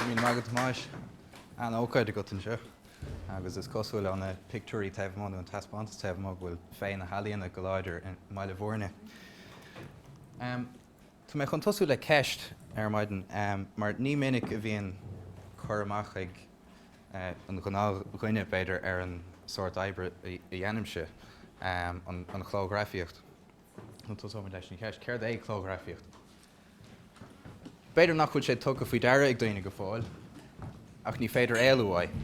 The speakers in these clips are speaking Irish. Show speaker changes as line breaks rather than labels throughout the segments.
Míle maith agat, a Thomáis! An-ócáid agat anseo agus is cosúil ó na pictiúirí taobh amuigh nó an taispeántas taobh amuigh go bhfuil féith na healaíona go láidir i mBaile Mhúirne. Tá mé chun tosú le ceist ar maidin mar ní minic a bhíonn cur amach ag an ghnáthdhuine, b'fhéidir, ar an sórt oibre a dhéanaimse, an chlóghrafaíocht. Nó tosóimid leis an cheist, céard é clóghrafaíocht? B'fhéidir nach bhfuil sé tugtha faoi deara ag daoine go fóill, ach ní féidir éalú uaidh.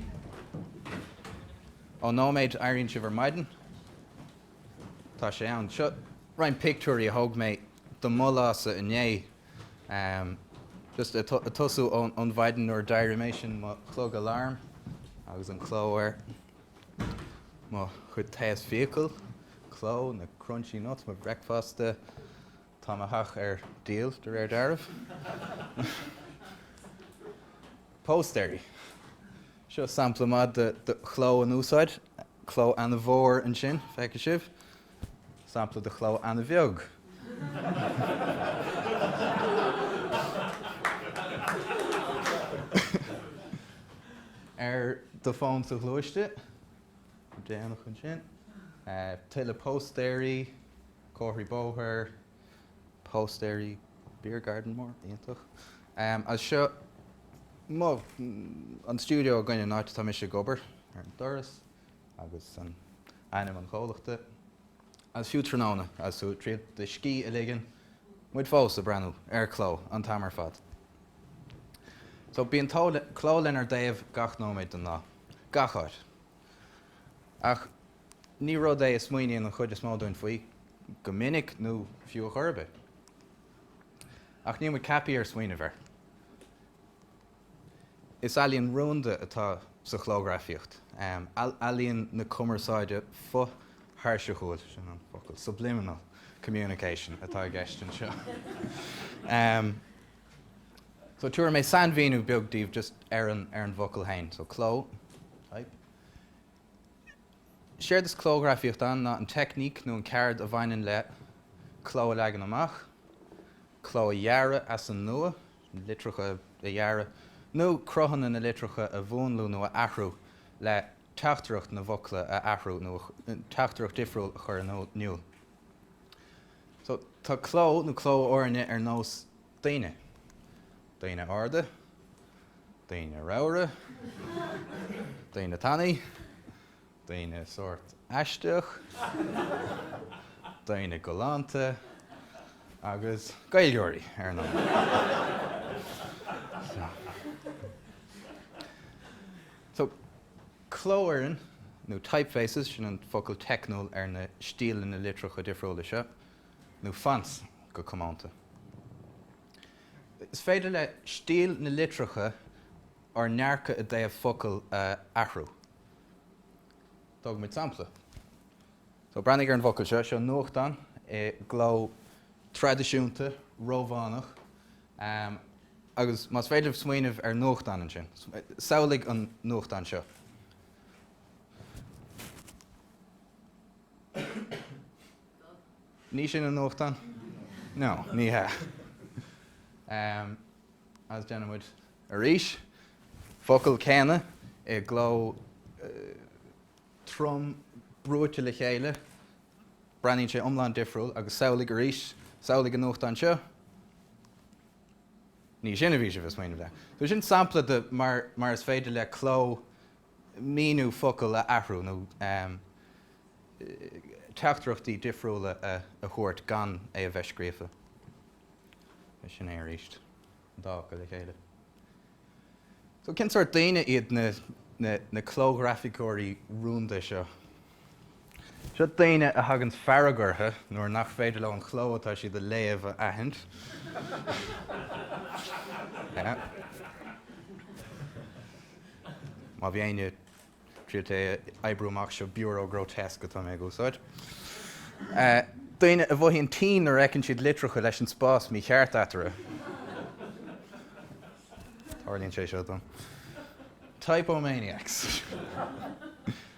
Ón nóiméad a éiríonn sibh ar maidin, Tá sé ann. Seo roinnt pictiúirí a thóg mé de mo lása inné. Just ag tosú ón mhaidin nuair a d'éirigh mé sin mo chlog alarm agus an cló air. Mo chuid taos fiacal, cló, na crunchy nuts, mo bhricfeasta, tá mo theach ar díol de réir dealraimh. Póstaeirí. Seo sampla maith de chló in úsáid. Cló an-mhór ansin, feicfidh sibh. Sampla de chló an-bheag. Ar do fón sa ghluaisteán, déanach ansin. Tuilleadh póstaeirí, comharthaí bóthair, póstaeirí, beer garden mór iontach. Agus seo mo, an stiúideo againn, an áit atá mise ag obair, ar an doras agus an, ainm an chomhlachta. Agus fiú tráthnóna, agus tú ag triail do scíth a ligean, muid fós ag breathnú ar cló an t-am ar fad. So bíonn cló lenár dtaobh gach nóiméad den lá, gach áit. Ach. Ní rud é a smaoiníonn an chuid is mó dúinn faoi go minic nó fiú a chor ar bith. Ach níl muid ceaptha ar smaoineamh air. Is ealaíon rúnda atá sa chlóghrafaíocht, ealaíon na cumarsáide fo-thairseachúil, sin an focal, subliminal communication, atá i gceist anseo. So tabharfaidh mé sainmhíniú beag daoibh just ar an bhfocal féin, so cló, type. Séard is clóghrafaíocht ann ná an teicníc nó an ceard a bhaineann le cló a leagan amach, cló a dhearadh as an nua, litreacha a dhearadh, nó cruthanna na litreacha a mhúnlú nó a athrú le teachtaireacht na bhfocla a athrú nó teachtaireacht difriúil a chur in iúl. Tá cló nó clófhoirne ar nós Daoine. Daoine arda. Daoine ramhra. Daoine tanaí. Daoine sórt aisteach. Daoine galánta. Agus Gaeilgeoirí, ar ndóigh. So. So, clófhoireann, nó typefaces, sin an focal teicniúil ar na stíleanna litreacha difriúla seo. nó fonts go comónta. Is féidir le stíl na litreacha ár ndearcadh i dtaobh focal a athrú. Tógfaidh muid sampla. So, breathnaigh ar an bhfocal seo. Seo nuachtán i gcló traidisiúnta Rómhánach agus más féidir libh smaoineamh ar nuachtán ansin, samhlaigh an nuachtán seo. Ní sin an nuachtán? No, ní hea. Ahem. Agus déanann muid arís. Focal céanna i gcló trom brúite le chéile, breathnaíonn sé iomlán difriúil agus samhlaigh arís, samhlaigh an nuachtán seo? Ní sin a bhí sibh ag smaoineamh le. So sin sampla de mar is féidir le cló míniú focal a athrú nó teachtaireachtaí difriúla a thabhairt gan é a bheith scríofa. Sin é arís, an dá chló le chéile. So, cén sórt daoine iad na clóghrafaiceoirí rúnda seo? Seo daoine a thaganns fearg orthu nuair nach féidir leo an cló atá siad a léamh a aithint. Má bhí éinne ag triail é a oibriú amach, seo Bureau Grotesque atá mé ag úsáid. Daoine a mhothaíonn tinn nuair a fheiceann siad litreacha leis an spás mícheart eatarthu. Tarlaíonn sé seo dom. Typomaniacs.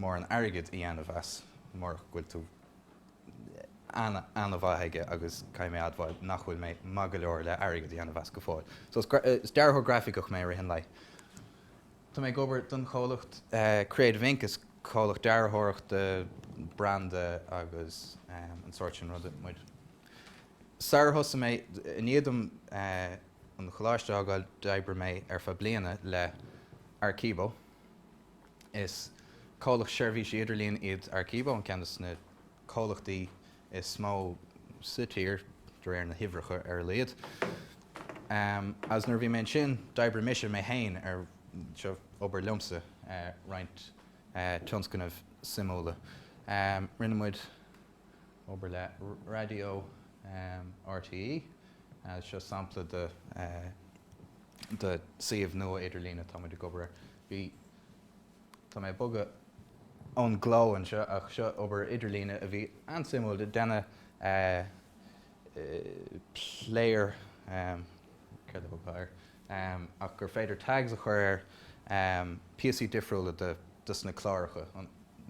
mórán airgid a dhéanamh as, murach go bhfuil tú ana-mhaith aige agus caithfidh mé a admháil nach bhfuil mé maith go leor le airgead a dhéanamh as go fóill. So, is dearthóir grafaiceach mé i rith an lae. Tá mé ag obair don chomhlacht Creative Inc, is comhlacht dearthóireachta branda agus an sórt sin ruda muid. Sar ar thosaigh mé, i ndiaidh dom an choláiste a fhágáil, d'oibrigh mé ar feadh bliana le Arecibo. Is comhlacht seirbhísí idirlín iad Arekibo, an ceann de sna comhlachtaí is mó sa tír, de réir na huimhreacha ar a laghad. Agus nuair a bhí mé ansin, d'oibrigh mise, mé féin, ar, seo obair liomsa, roinnt tionscnaimh suimiúla. Rinne muid obair le raidió RTÉ, agus seo sampla de suíomh nua idirlín atá muid ag obair. Bhí. Tá mé ag bogadh ón gcló anseo ach seo obair idirlíne a bhí an-suimiúil le déanamh, player, céard a thabharfá air, ach gur féidir tags a chur ar píosaí difriúla de sna cláracha,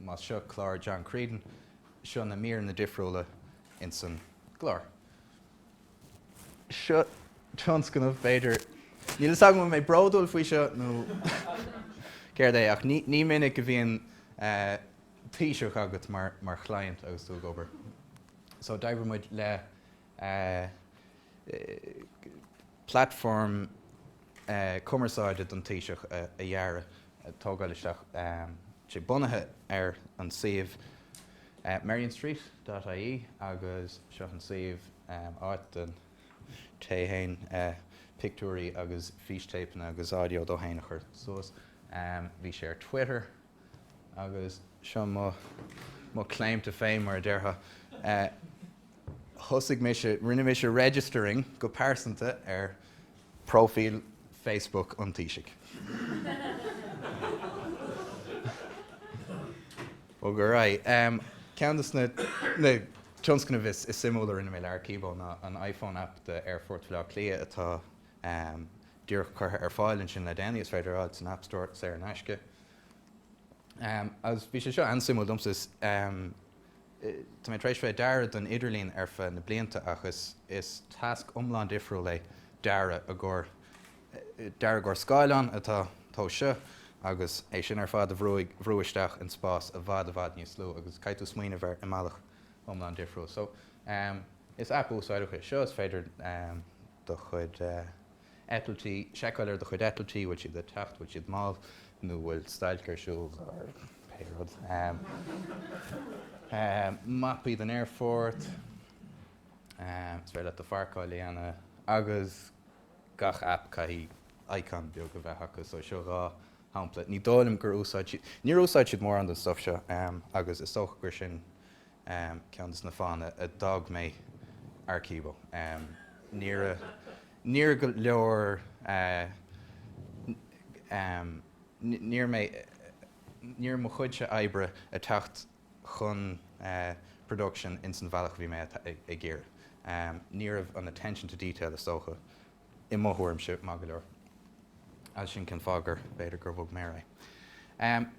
más seo clár John Creedon, seo na míreanna difriúla ins an gclár. Seo tionscnamh, b'fhéidir. Níl 'fhios agam an bhfuil mé bródúil faoi seo nó céard é ach ní minic a bhíonn Taoiseach agat mar chliant agus tú ag obair. So d'oibrigh muid le platform. cumarsáide don Taoiseach a dhearadh, a thógáil isteach, sé bunaithe ar an suíomh merrionstreet dot ie agus seo an suíomh, áit don té fhéin pictiúirí agus fístéipeanna agus audio dó fhéin a chur suas. Bhí sé ar Twitter agus seo mo claim to fame mar a déarfá. Thosaigh mise, rinne mise registering go pearsanta ar Próifíl Facebook an Taoisigh. Bog ar aghaidh. Ceann de sna tionscnaimh is suimiúla a rinne mé le Arekibo ná an iPhone App d'Aerfort Bhaile Átha Cliath atá díreach curtha ar fáil ansin le déanaí. Is féidir é a fháil san App Store saor in aisce. Agus bhí sé seo an-suimiúil domsa. Tá mé tar éis bheith ag dearadh don idirlíon ar feadh na blianta ach is tasc iomlán difriúil é ag dearadh i gcomhair scáileán atá an tomhas seo agus é sin ar fad a bhrú isteach in spás i bhfad i bhfad níos lú agus caithfidh tú smaoineamh air i mbealach iomlán difriúil. So, is app úsáideach é seo, is féidir do chuid eitiltí, seiceáil ar do chuid eitiltí, bhfuil siad ag teacht, bhfuil siad mall, nó bhfuil stailc ar siúl, or pé rud. Mapaí den aerfort, is féidir leat do pharcáil a dhéanamh, agus gach app, caithfidh icon beag a bheith acu, so seo dhá shampla. Ní dóigh liom gur úsáid siad, níor úsáid siad mórán den stuff seo, agus is dócha gur sin Am, ceann de na fáthanna a d'fhág mé Arecibo. Ní raibh go leor, ní raibh mé, ní raibh mo chuidse oibre ag teacht chun production in san bhealach a bhí mé ag iarraidh. Ní raibh an attention to detail is dócha. i mo thuairimse, maith go leor. Is sin cén fáth gur, b'fhéidir gur bhog mé.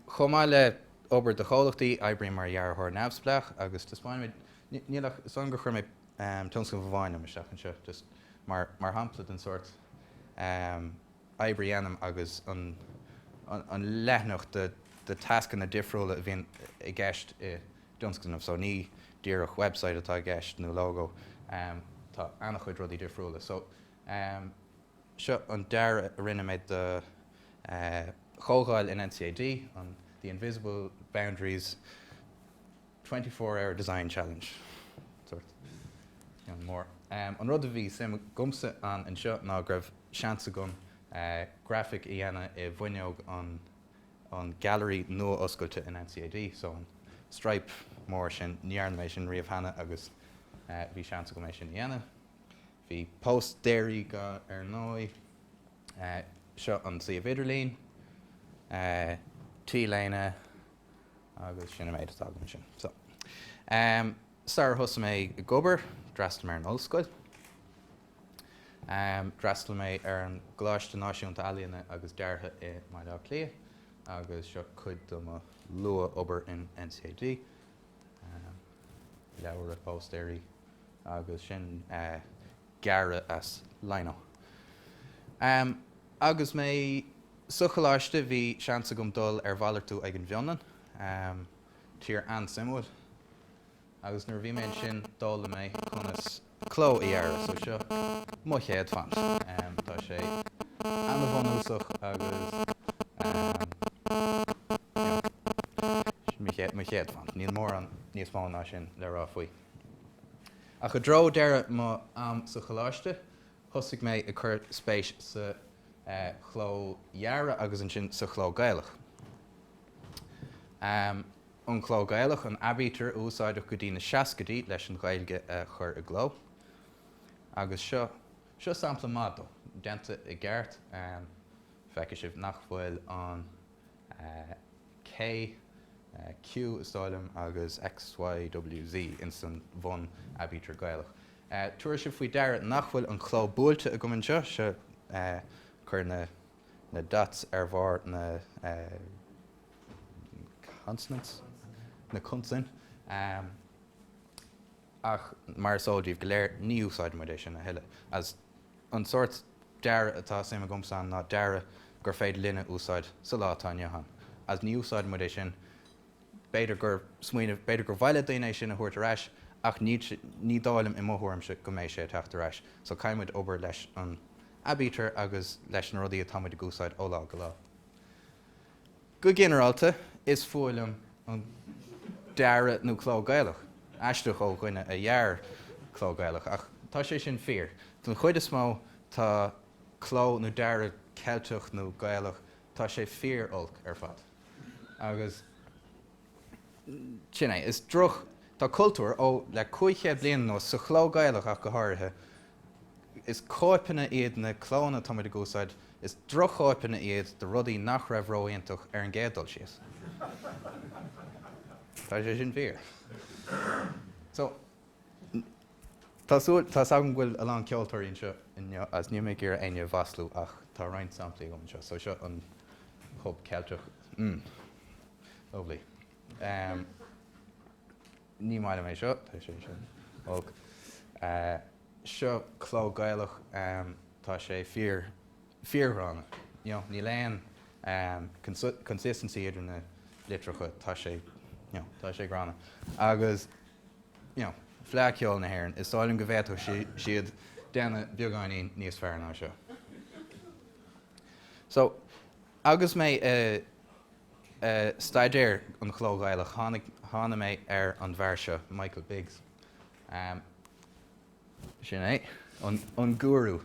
Chomh maith le obair do chomhlachtaí, oibrím mar dhearthóir neamhspleách agus taispeáin, níl ach, so chuir mé tionscnamh amháin liom isteach anseo, just mar mar shampla den sórt oibre a dhéanaim agus an an leithne de de tascanna difriúla a bhíonn i gceist i dtionscnamh so ní díreach website atá i gceist nó logo tá an-chuid rudaí difriúla so seo an dearadh a rinne mé do chomhdháil in NCAD, an The Invisible Boundaries Twenty Four Hour Design Challenge sórt mór. An rud a bhí suim agamsa ann anseo ná go raibh seans agam grafaic a dhéanamh i bhfuinneog an Gallery nua-oscailte in NCAD, so an stripe mór sin, ní dhearna mé sin riamh cheana agus bhí seans agam é sin a dhéanamh. Bhí póstaeirí ar ndóigh. Seo an suíomh idirlín, T-léine agus sin an méid atá agam ansin. So, sar a thosaigh mé ag obair, d'fhreastail mé ar an ollscoil. D'fhreastail mé ar an gColáiste Náisiúnta Ealaíne is Deartha i mBaile Átha Cliath agus seo cuid do mo luath-obair in NCAD, leabhair, póstaeirí agus sin gearradh as lino. Agus mé sa choláiste bhí seans agam dul ar mhalartú chuig an bhFionlainn, tír an-suimiúil. Agus nuair a bhí mé ansin, d'fhoghlaim mé conas cló a dhearadh, so seo mo chéad font. Tá sé an-bhunúsach agus you know, mo chéad font, níl mórán níos mó ná sin le rá faoi. Ach i dtreo deireadh mo am sa choláiste, thosaigh mé ag cur spéis sa chló dhearadh agus ansin sa chló Gaelach. an chló Gaelach, an aibítir a úsáideadh go dtí na seascaidí leis an Ghaeilge a chur i gcló. Agus seo, seo sampla maith dó, déanta i gceart, feicfidh sibh nach bhfuil an K, Q is dóigh liom, agus X, Y, W, Z ins an bhun aibítir Gaelach. Tabharfaidh sibh faoi deara nach bhfuil an chló buailte agam anseo, seo, cuir na. na dots ar bharr na consonants, na consain, ach mar is eol daoibh go léir, ní úsáidimid é sin a thuilleadh, agus an sórt dearadh atá suim agamsa ann ná dearadh gur féidir linn a úsáid sa lá atá inniu ann, agus ní úsáidimid é sin, b'fhéidir gur smaoineamh, b'fhéidir gur mhaith le daoine é sin a thabhairt ar ais, ach ní, ní dóigh liom, i mo thuairimse, go mbeidh sé ag teacht ar ais, so caithfimid obair leis an. aibítir agus leis na rudaí atá muid ag úsáid ó lá go lá. Go ginearálta, is fuath liom an dearadh nó cló Gaelach, aisteach ó dhuine a dhear cló Gaelach, ach tá sé sin fíor. Den chuid is mó, tá cló nó dearadh Ceilteach nó Gaelach, tá sé fíor olc ar fad. Agus. Sin é, is droch, tá cultúr, ó, le cúig chéad bliain anuas, sa chló Gaelach ach go háirithe, is cóipeanna iad na clónna atá muid ag úsáid, is drochchóipeanna iad de rudaí nach raibh ró-iontach ar an gcéad dul síos. Tá sé sin fíor. So, Tá a fhios agam go bhfuil a lán ceoltóirí anseo agus níl mé ag iarraidh éinne a mhaslú ach tá roinnt samplaí agam anseo. So seo an Chlub Ceilteach. mm. Lovely. em. ní maith liom é seo, tá sé sin olc. Eh. seo cló Gaelach, em. tá sé fíor. ghránna, you know, níl aon consistency idir na litreacha, tá sé, you know, tá sé gránna. Agus, you know, Fleadh Cheoil na hÉireann, is dóigh liom go bhféadfadh siad déanamh beagáinín níos fearr ná seo. So, agus mé ag staidéar an chló Ghaelach, tháinig, thána mé ar an bhfear seo, Michael Biggs. Sin é, an gúrú.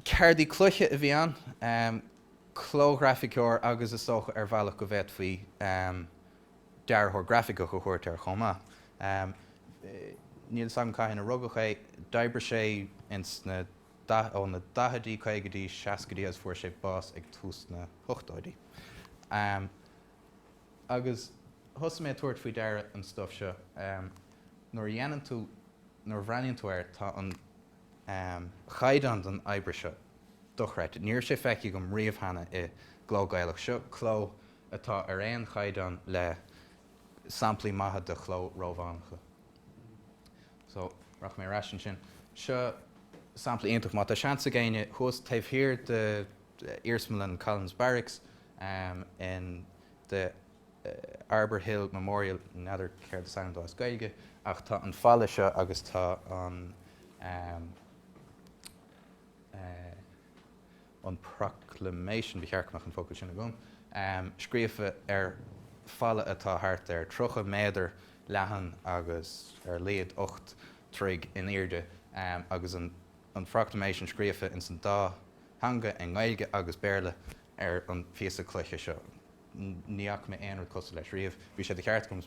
Ceardaí cloiche a bhí ann, clóghrafaiceoir agus is dócha ar bhealach go bhféadfaí dearthóir grafaiceach a thabhairt air chomh maith. Níl 's agam cathain a rugadh é, d'oibrigh sé ins na, ó na daichidí, caogaidí, seascaidí agus fuair sé bás ag tús na hochtóidí. Agus thosaigh mé ag tabhairt faoi deara an stuif seo, nuair a dhéanann tú, nuair a bhreathnaíonn tú air, tá an chaighdeán den obair seo dochreidte. Ní raibh sé feicthe agam riamh cheana i gcló Gaelach. Seo cló atá ar aon chaighdeán le samplaí maithe de chló Rómhánacha. So, rachaidh mé ar ais ansin. Seo sampla iontach. Má tá seans ag éinne, thuas taobh thiar de Iarsmalann Collins Barracks, um in the uh Arbour Hill Memorial, n'fheadar céard is ainm dó as Gaeilge ach tá an falla seo agus tá an um uh an proclamation, ba cheart go mbeadh an focal sin agam, um scríofa ar falla atá thart ar 30 méadar leathan agus ar laghad 8 dtroigh in airde um agus an an proclamation scríofa ins an dá theanga, i nGaeilge agus Béarla, ar an phíosa cloiche seo. Ní fhaca mé aon rud cosúil leis riamh. Bhí sé de cheart agam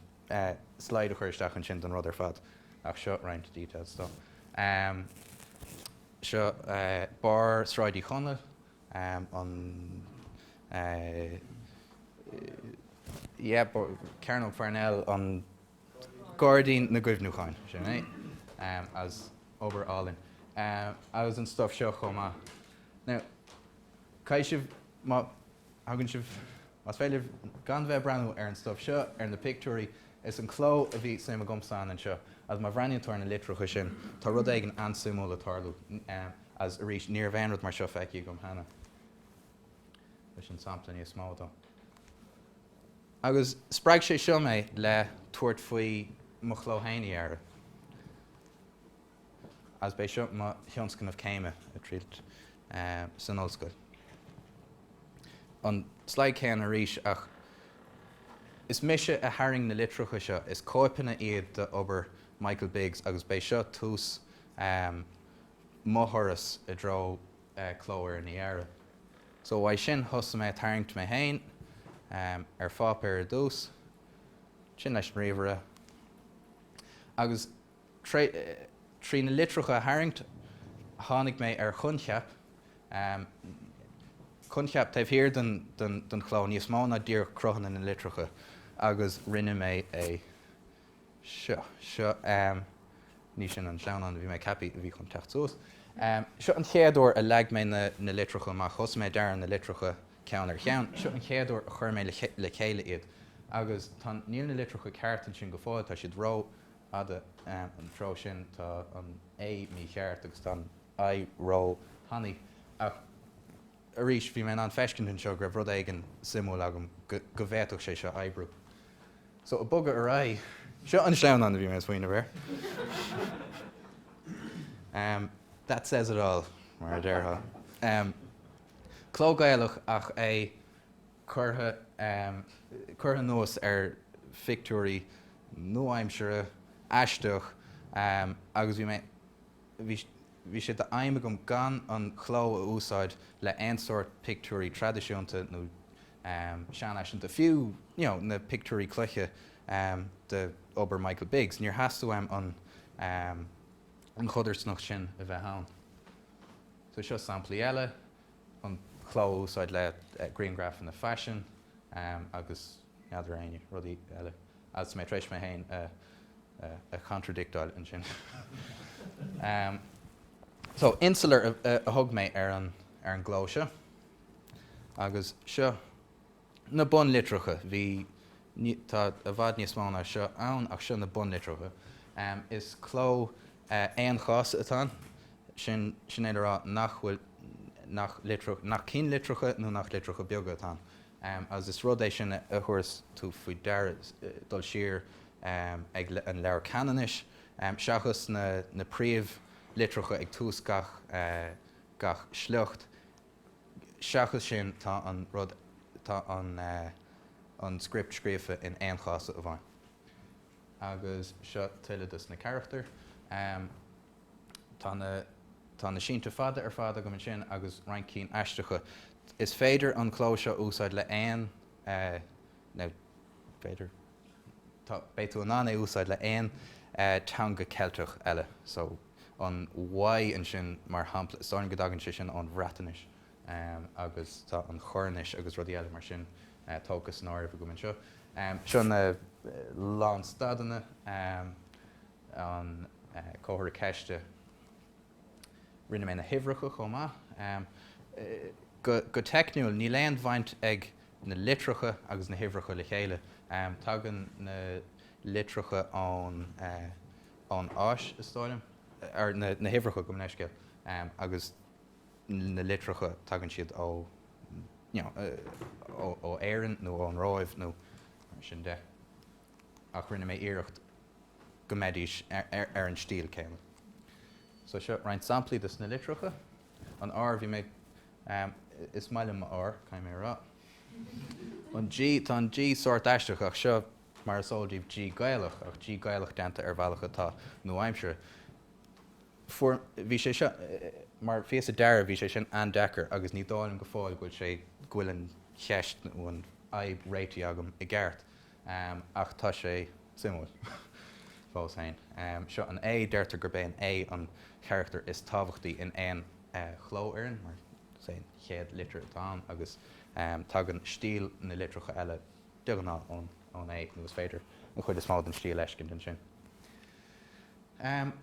slide a chur isteach ansin den rud ar fad, ach seo roinnt details dó. Seo barr Sráid Uí Chonaill, an, eh. yeah, Cearnóg Pharnell, an. Gairdín na gCuimhneachán, sin é, agus obair álainn agus an stuif seo chomh maith. Now, caithfidh sibh, má thagann sibh, más féidir libh gan bheith ag breathnú ar an stuif seo, ar na pictiúirí, is an cló a bhí suim agam san anseo, agus má bhreathnaíonn tú ar na litreacha sin, tá rud éigin an-suimiúil ag tarlú, agus arís, ní raibh aon rud mar seo feicthe agam cheana. Sin sampla níos mó dó. Agus spreag sé seo mé le tabhairt faoi mo chló féin a dhearadh, agus b'é seo mo thionscnamh céime, ag triail san ollscoil. An slide céanna arís, ach is mise a tharraing na litreacha seo, is cóipeanna iad d'obair Michael Biggs, agus b'é seo tús mo thurais i dtreo cló a dhearadh. So uaidh sin thosaigh mé ag tarraingt mé féin ar pháipéar ar dtús, ansin leis an ríomhaire agus trí na litreacha a tharraingt tháinig mé ar choincheap, coincheap taobh thiar den chló, níos mó ná díreach cruthanna na litreacha agus rinne mé é. Seo, seo, em. ní sin an sleamhnán a bhí mé ag ceapadh a bhí chun teacht suas. Em. seo an chéad uair a leag mé na, na litreacha amach, thosaigh mé ag dearadh na litreacha ceann ar cheann, seo an chéad uair a chuir mé le, le chéile iad agus tá, níl na litreacha ceart ansin go fóill, tá siad ró fhada, em. an treo sin, tá an A mícheart agus tá an I ró tanaí ach. Arís, bhí mé in ann feiscint anseo go raibh rud éigin suimiúil agam, go bhféadfadh sé seo oibriú. So, ag bogadh ar aghaidh, seo an sleamhnán a bhí mé ag smaoineamh air. Ahem, that says it all, mar a déarfá. Ahem, cló Gaelach ach é curtha, ahem, curtha anuas ar phictiúirí nua-aimseartha, aisteach, ahem, agus bhí mé. Bhí sé d'aidhm agam gan an cló a úsáid le haon sórt pictiúirí traidisiúnta nó seanfhaiseanta, fiú na pictiúirí cloiche de obair Michael Biggs, níor theastaigh uaim an chodarsnacht sin a bheith ann. So seo samplaí eile, an cló a úsáid le grianghrafanna faisin agus. n'fheadar aon rudaí eile agus mé tar éis mé féin a chantradicteáil ansin. So, insular a thug mé ar an gcló seo agus seo na bunlitreacha. Bhí, tá i bhfad níos mó ná seo ann ach seo na bunlitreacha. Is cló aon-chása atá ann, sin é le rá nach cinnlitreacha nó nach litreacha beaga atá ann. Agus is rud é sin a thabharfas tú faoi deara dul siar ag an Leabhar Ceanannais, seachas na príomh litreacha ag tús gach sliocht, seachas sin tá an rud, tá an script scríofa in aon chás amháin. Agus seo tuilleadh dos na carachtair. Tá na Tá na sínte fada ar fad agam ansin agus roinnt cinn aisteacha. Is féidir an cló seo a úsáid le aon b'fhéidir tá beidh tú in ann é a úsáid le aon teanga Ceilteach eile. So an Y ansin mar shampla, is dóigh liom go dtagann sé sin ón Bhreatnais. agus tá an Choirnis agus rudaí eile mar sin tógtha san áireamh agam anseo. Seo na lánstadanna, an comhartha ceiste. Rinne mé na huimhreacha chomh maith. Go teicniúil, níl aon bhaint ag na litreacha agus na huimhreacha le chéile, tagann na litreacha ón Áis, is dóigh liom, na huimhreacha, gabh mo leithscéal, agus. na litreacha, tagann siad ó Éirinn nó ón Róimh nó mar sin de, ach rinne mé iarracht go mbeidís ar an stíl céanna. So seo roinnt samplaí dos na litreacha. An R, bhí mé, em, is maith liom mo R, caithfidh mé a rá. An G, tá an G sórt aisteach ach seo mar is eol daoibh G Gaelach, ach G Gaelach déanta ar bhealach atá nua-aimseartha. bhí sé seo, mar phíosa dearaidh, bhí sé sin an-deacair agus ní dóigh liom go fóill go bhfuil sé, go bhfuil an cheist nó an fhadhb réitithe agam i gceart, ach tá sé suimiúil fós féin. Seo an A, deirtear gurb é an A an carachtar is tábhachtaí in aon chlófhoireann, mar is é an chéad litir atá ann agus tagann stíl na litreacha eile de ghnáth ón A nó is féidir an chuid is mó den stíl a fheiscint ansin. Am,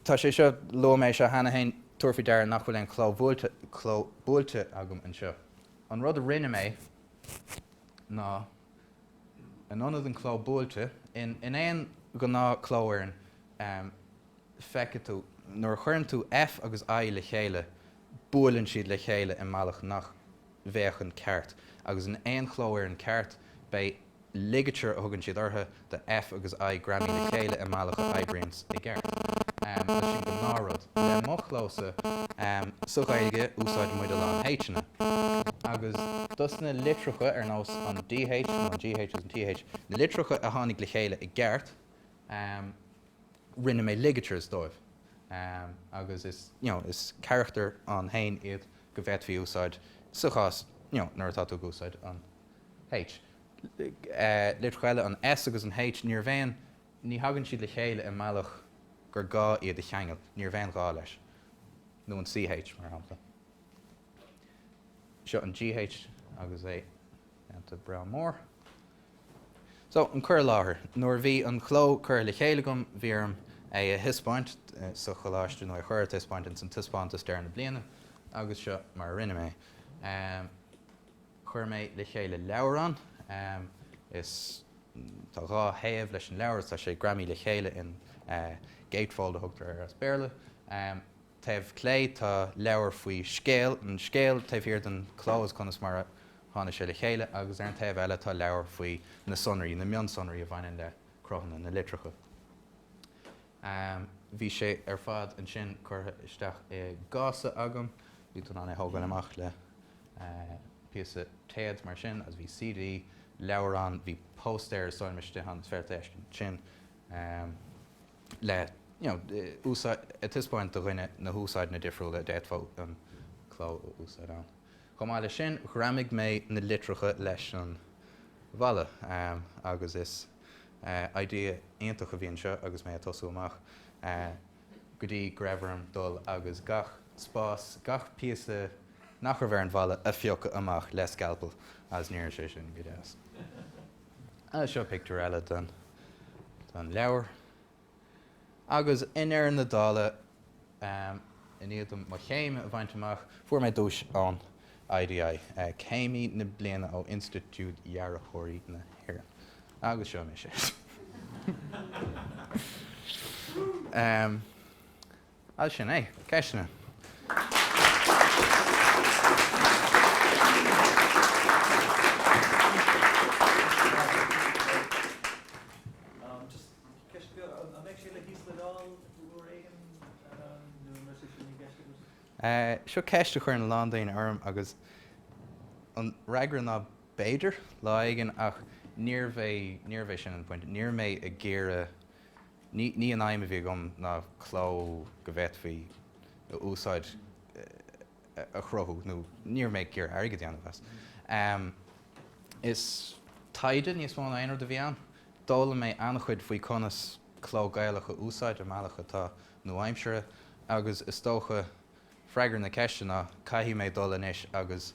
Tá sé seo, luaigh mé é seo cheana féin, tabhair faoi deara nach bhfuil aon chló nasctha, cló buailte agam anseo. An rud a rinne mé ná, in ionad an cló buailte, in, in aon ghnáth chlófhoireann, am, feicfidh tú, nuair a chuireann tú F agus I le chéile, buaileann siad le chéile i mbealach nach, bhféachann ceart. Agus in aon chlófhoireann ceart, beidh ligature a thugann siad orthu, do F agus I greamaithe le chéile i mbealach a oibríonns i gceart. Tá sin ina ghnáthrud. Le mo chlósa, sa Ghaeilge, úsáideann muid a lán H-anna. Agus dos na litreacha, ar nós an dh nó an gh agus an th, na litreacha a tháinig le chéile i gceart, rinne mé ligatures dóibh agus is, you know, is carachtair ann féin iad go bhféadfaí a úsáid sa chás, you know, nuair atá tú ag úsáid an H. Litreacha eile, an S agus an H, níorbh aon, ní thagann siad le chéile i mbealach gur gá iad a cheangal, níorbh aon ghá leis, nó an CH, mar shampla. Seo an GH agus é déanta breá mór. So, an cur i láthair. Nuair a bhí an cló curtha le chéile agam, bhí orm é a thaispeáint sa choláiste, nó é a chur ar taispeáint ins an taispeántas deireadh na bliana, agus seo mar a rinne mé. Chuir mé le chéile leabhrán, is tá dhá thaobh leis an leabhar, is tá sé greamaithe le chéile in gatefold a thugtar air as Béarla. taobh clé tá leabhar faoi scéal, an scéal taobh thiar den chló is conas mar a tháinig sé le chéile, agus ar an taobh eile tá leabhar faoi na sonraí, na mionsonraí a bhaineann le cruthanna na litreacha. Bhí sé ar fad ansin curtha isteach i gcása agam, bhí tú in ann é a thógáil amach le píosa téad mar sin, agus bhí CD, leabhrán, bhí póstaer, is dóigh liom, istigh ann, is féidir é a fheiscint ansin. le úsáid a thaispeáint do dhuine na húsáideanna difriúla a d'fhéadfá an cló a úsáid ann. Chomh maith leis sin, ghreamaigh mé na litreacha leis an bhalla agus is idea iontach a bhí anseo agus mé ag tosú amach, go dtí go raibh orm dul agus gach spás, gach píosa nach raibh ar an bhalla a phiocadh amach le scalpel agus ní raibh sé sin go deas! Seo pictiúr eile den leabhar. Agus i ndeireadh na dála, i ndiaidh dom mo chéim a bhaint amach, fuair mé duais ón IDI, Céimí na Bliana ó Institiúid Dhearthóirí na hÉireann. Agus seo mise. As sin é. Ceisteanna. Seo ceist a chuireann a lán daoine orm agus an fhreagra ná b'fhéidir, lá éigin, ach níorbh é sin an pointe. Níor mé ag iarraidh Ní an aidhm a bhí agam ná cló go bhféadfaí a úsáid a chruthú nó níor mé ag iarraidh airgead a dhéanamh as. Is taighde níos mó ná aon rud eile a bhí ann. D'fhoghlaim mé an-chuid faoi conas cló Gaelach a úsáid i mbealach atá nua-aimseartha agus is dócha, freagra na ceiste ná, caithfidh mé dul anois agus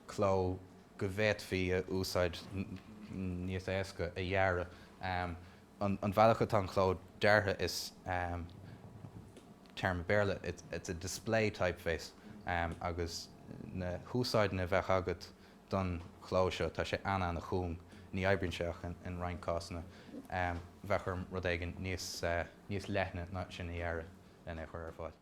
cló go bhféadfaí a úsáid níos éasca a dhearadh. An bhealach atá an chló deartha is téarma Béarla, it's a display typeface, agus na húsáideanna a bheadh agat don chló seo, tá sé an-an-chúng, ní oibríonn sé ach in roinnt cásanna, bheadh orm rud éigin níos leithne ná sin a dhearadh lena chur ar fáil.